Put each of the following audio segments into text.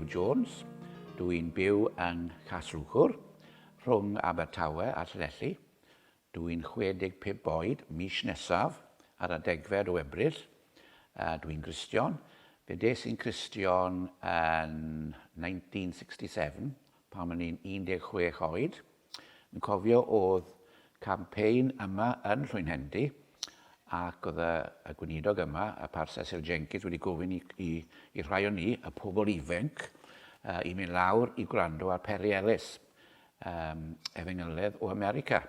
Jones. Dw i'n byw yng Nghasrwchwr, rhwng Abertawe a Llanelli. Dw i'n 65 oed mis nesaf ar y degfed o Ebrill. Dw i'n Gristion. Fe des i'n Cristion yn 1967 pan o'n i'n 16 oed. Yn cofio oedd campaign yma yn Nhlwynhendy ac oedd y gweinidog yma, y Par Cecil Jenkins, wedi gofyn i'r rhai o ni, y pobl ifenc, i mynd lawr i gwrando ar Peri Ellis. am Efengyledd o America,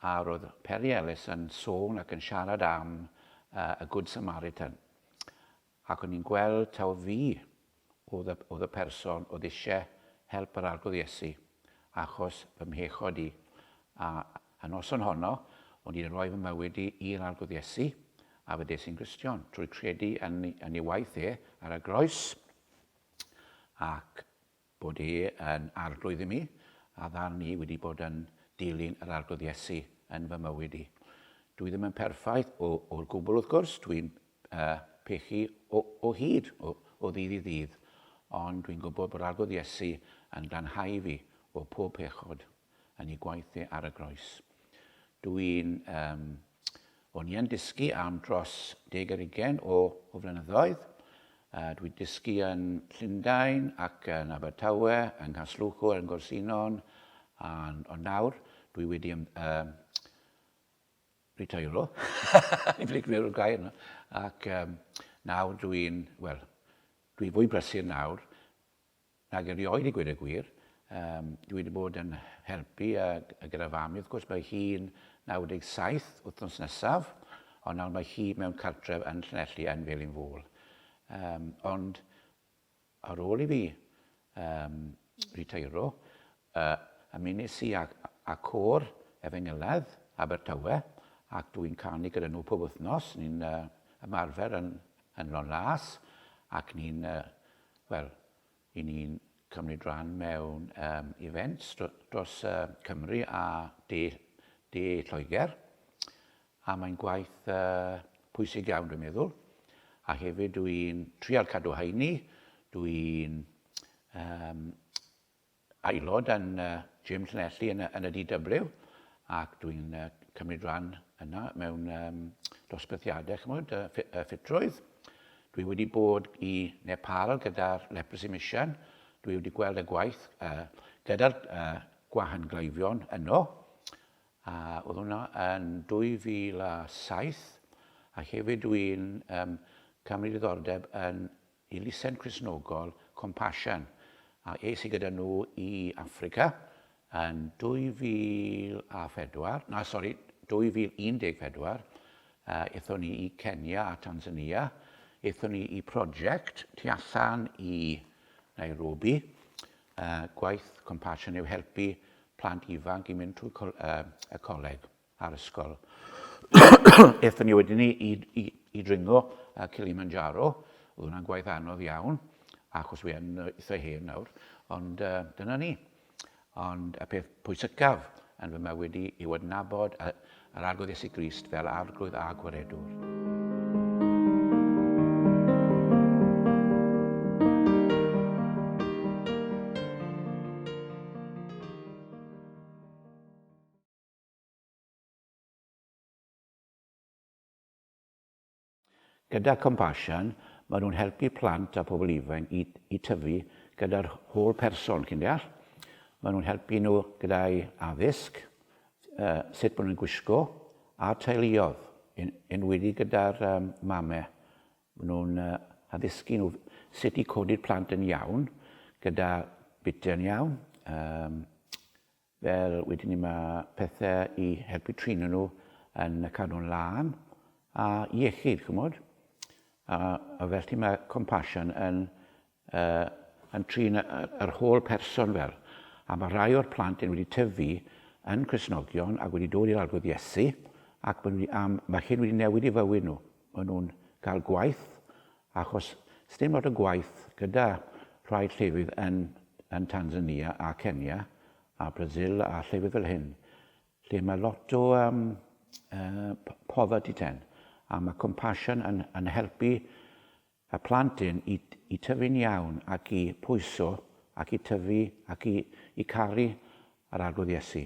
a roedd Perry Ellis yn sôn ac yn siarad am y Good Samaritan, ac o'n i'n gweld taw fi oedd y person oedd eisiau help yr Arglwydd Iesu achos fy mhechod i, a y noson honno o'n i wedi rhoi fy mywyd i i'r Arglwydd Iesu, a fe des i'n Gristion trwy credu yn ei waith e ar y groes, ac Bod e yn Arglwydd i mi, a ddarn i wedi bod yn dilyn yr Arglwydd Iesu yn fy mywyd i. Dw i ddim yn perffaith o, o'r gwbl wrth gwrs, dw i'n uh, pechu o, o hyd, o, o ddydd i ddydd, ond dwi'n gwybod bod Arglwydd Iesu yn glanhau fi o pob pechod. yn ei gwaith e ar y groes. Dw i'n... Um, o'n i yn dysgu am dros deg ar ugen o, o flynyddoedd. Uh, dwi wedi dysgu yn Llundain ac yn Abertawe, yng Nghasluchwr, yn Gorsinon, a'n, ond nawr dwi wedi um, um, retairo, i flic mewn o'r gair yna, ac um, nawr dwi'n, wel, dwi fwy brysur nawr, Ac erioed i gweud y gwir, dwi wedi bod yn helpu gyda fam i wrth gwrs, mae hi'n 97 wythnos nesaf, ond nawr mae hi mewn cartref yn Llanelli yn Felin Fôl. Ond ar ôl i fi ritairo, Y ymunes i â Côr Efengylaidd Abertawe ac dw i'n canu gyda nhw pob wythnos. Ni'n ymarfer yn Ynlon Las ac ni'n, wel, i ni'n cymryd rhan mewn events dros Cymru a de Lloegr a mae'n gwaith pwysig iawn dwi'n meddwl a hefyd dw i'n trial cadw heini, dw i'n aelod yn gym Llanelli yn y, yn y DW, ac dwi'n cymryd rhan yna mewn um, dosbarthiadau, chymod, y, y ffitrwydd. Dwi wedi bod i Nepal gyda'r Leprosy Mission, dwi wedi gweld y gwaith uh, gyda'r uh, gwahan gleifion yno, a oedd hwnna yn 2007, a hefyd dwi'n um, cymryd diddordeb yn Elusen Cristnogol Compassion a es i gyda nhw i Affrica yn 2004, na sori, 2014. Aethon ni i Kenya a Tanzania. Aethon ni i prosiect tu allan i Nairobi. Gwaith Compassion yw helpu plant ifanc i mynd trwy y coleg. a'r ysgol. Ethon ni wedyn ni i, i, i dringo uh, Kilimanjaro. Oedd hwnna'n gwaith anodd iawn, achos fi yn eitha hen nawr. Ond uh, dyna ni. Ond y peth pwysicaf yn fy mywyd i yw adnabod yr arglwydd Iesu Grist fel arglwydd a gwaredwr. Gyda Compassion, maen nhw'n helpu plant a phobl ifanc i i tyfu gyda'r holl person, chi'n deall. Maen nhw'n helpu nhw gyda'u addysg, sut bod nhw'n gwisgo, a'r teuluoedd, yn enwedig gyda'r mame. Maen nhw'n addysgu nhw sut i codi'r plant yn iawn, gyda bitiau'n iawn, Fel wedyn ni mae pethe i helpu trino nhw yn y cadw'n lân a iechyd ch'mod? A a fel ti mae compassion yn yy yn trin y y yr holl person fel. A mae rhai o'r plant yn wedi tyfu yn Cristnogion ac wedi dod i'r Arglwydd Iesu ac ma' nhw wedi am- ma' hyn wedi newid i fywyd nhw. Ma' nhw'n cael gwaith Achos sdim lot o gwaith gyda rhai llefydd yn yn Tanzania a Kenya a Brazil a llefydd fel hyn lle mae lot o um, uh, poverty ten a mae compassion yn, yn helpu y plant hyn i, i tyfu'n iawn ac i pwyso ac i tyfu ac i, i caru yr arglwydd Iesu.